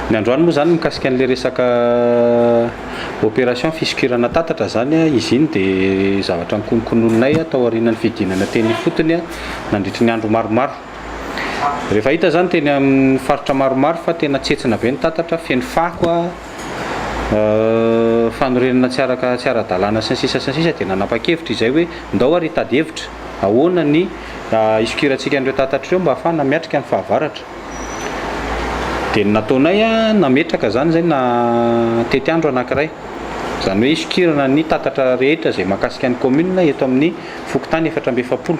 Ny androany moa izany mikasika an'ilay resaka opération fisokirana tatatra izany, izy iny dia zavatra nokononkononinay tao aorianan'ny fidinana teny ifotony nandritry ny andro maromaro. Rehefa hita izany teny amin'ny faritra maromaro fa tena tsentsina be ny tatatra, feno fako, fanorenana tsy araka tsy ara-dalàna sy ny sisa sy ny sisa dia nanapa-kevitra izay hoe ndao ary hitady hevitra ahoana ny hisokirantsika an'ireo tatatra ireo mba hahafahana miatrika ny fahavaratra. Dia ny nataonay, nametraka izany izay na tetiandro anankiray. Izany hoe hisokirana ny tatatra rehetra izay mahakasika ny kaominina eto amin'ny fokontany efatra amby efapolo,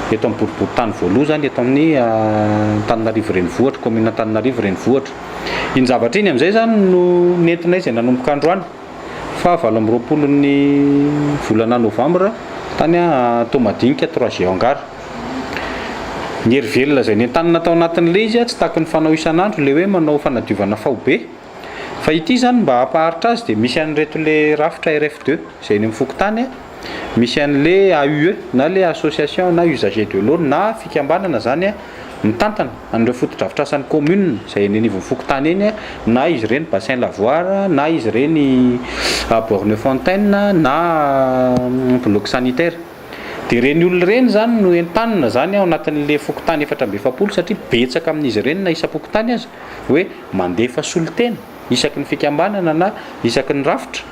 eto amin'ny boriborintany voaloha izany eto amin'ny Antananarivo Renivohitra, kaominina Antananarivo Renivohitra. Iny zavatra iny amin'izay izany no nentinay izay nanomboka androany. fahavalo amby roapolo ny volana novambra tany Toamadinika, Trois-G Hangar. Ny hery velona izay nentanina tao anatin'ilay izy tsy takin'ny fanao isan'andro ilay hoe manao fanadiovana faobe. Fa ity izany mba hampaharitra azy dia misy an'ireto ilay rafitra RF deux izay eny amin'ny fokontany. misy an'le AUE na le association na usagers de l'eau na fikambanana zany mitantana an'ireo fotodrafitrasan'ny commune izay eny anivon'ny fokontany eny na izy ireny bassin lavoir na izy ireny borne fontaine na bloc sanitaire dia ireny olona ireny zany no entanina zany ao anatin'le fokontany efatra amby efapolo satria betsaka amin'izy ireny na isam-pokontany aza hoe mandefa solontena isaky ny fikambanana na isaky ny rafitra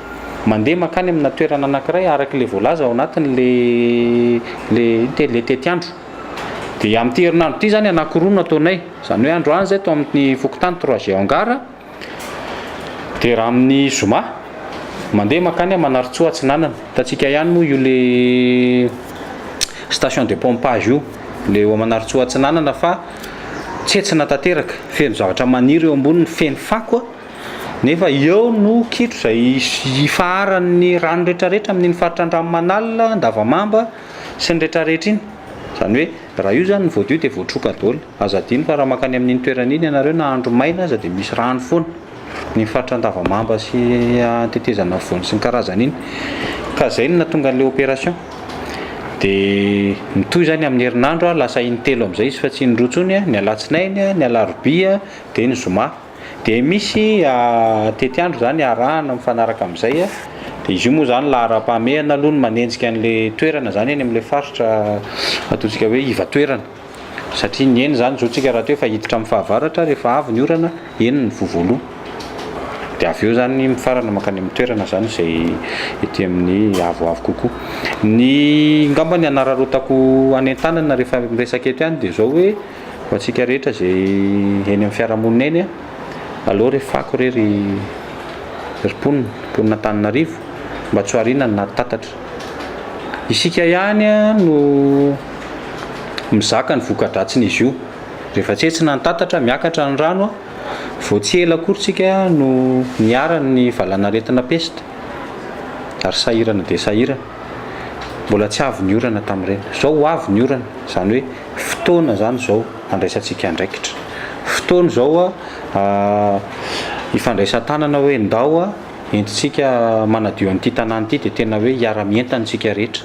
mandeha mankany amina toerana anankiray araka ilay voalaza ao anatin'ilay ilay tetiandro. Dia amin'ity herinandro ity izany anankiroa no ataonay, izany hoe androany izay tao amin'ny fokontany troisième hangar, dia raha amin'ny zoma mandeha mankany Manarintsoa Atsinanana, hitantsika ihany moa io ilay station de pompage io, ilay eo Manarintsoa Atsinanana fa. Tsentsina tanteraka, feno zavatra maniry eo amboniny, feno fako a! nefa eo no kitro izay ifaharan'ny rano rehetrarehetra amin'iny faritra Andranomanalina, Andavamamba sy ny rehetrarehetra iny. Izany hoe raha io izany no voadio dia voatroka daholo. Aza adino fa raha mankany amin'iny toerana iny ianareo na andro maina aza dia misy rano foana. ny faritra Andavamamba sy Tetezana Afovoany sy ny karazany iny ka zay no nahatonga an'ilay opération dia mitohy izany amin'ny herinandro lasa intelo amin'izay izy fa tsy indroa intsony ny alatsinainy ny alarobia dia ny zoma dia misy tetiandro izany arahana mifanaraka amin'izay dia izy io moa izany laharam-pahamehana aloha no manenjika an'ilay toerana izany any amin'ilay faritra ataontsika hoe iva toerana Satria ny eny zany zontsika rahateo fa hiditra amin'ny fahavaratra rehefa avy ny orana, eny ny vovoloha. Dia avy eo zany mifarana mankany amin'ny toerana zany izay ety amin'ny avoavo kokoa. Ny ngamba ny anararaotako hanentanana rehefa miresaka eto ihany dia izao hoe ho antsika rehetra izay eny amin'ny fiarahamonina eny a, aleo re fako re ry ry mponina, mponina Antananarivo, mba tsy ho ariana ny nari-tatatra. Isika ihany no mizaka ny voka-dratsin'izy io. Rehefa tsy etsy na antatatra, miakatra ny rano. Vao tsy ela akory isika no niharan'ny valanaretina pesta ary sahirana dia sahirana. Mbola tsy avy ny orana tamin'ireny. Izao ho avy ny orana. Izany hoe fotoana izany izao handraisantsika andraikitra. Fotoana izao hifandraisan-tanana hoe ndao. Entintsika manadio an'ity tanàna ity dia tena hoe hiara-mientana isika rehetra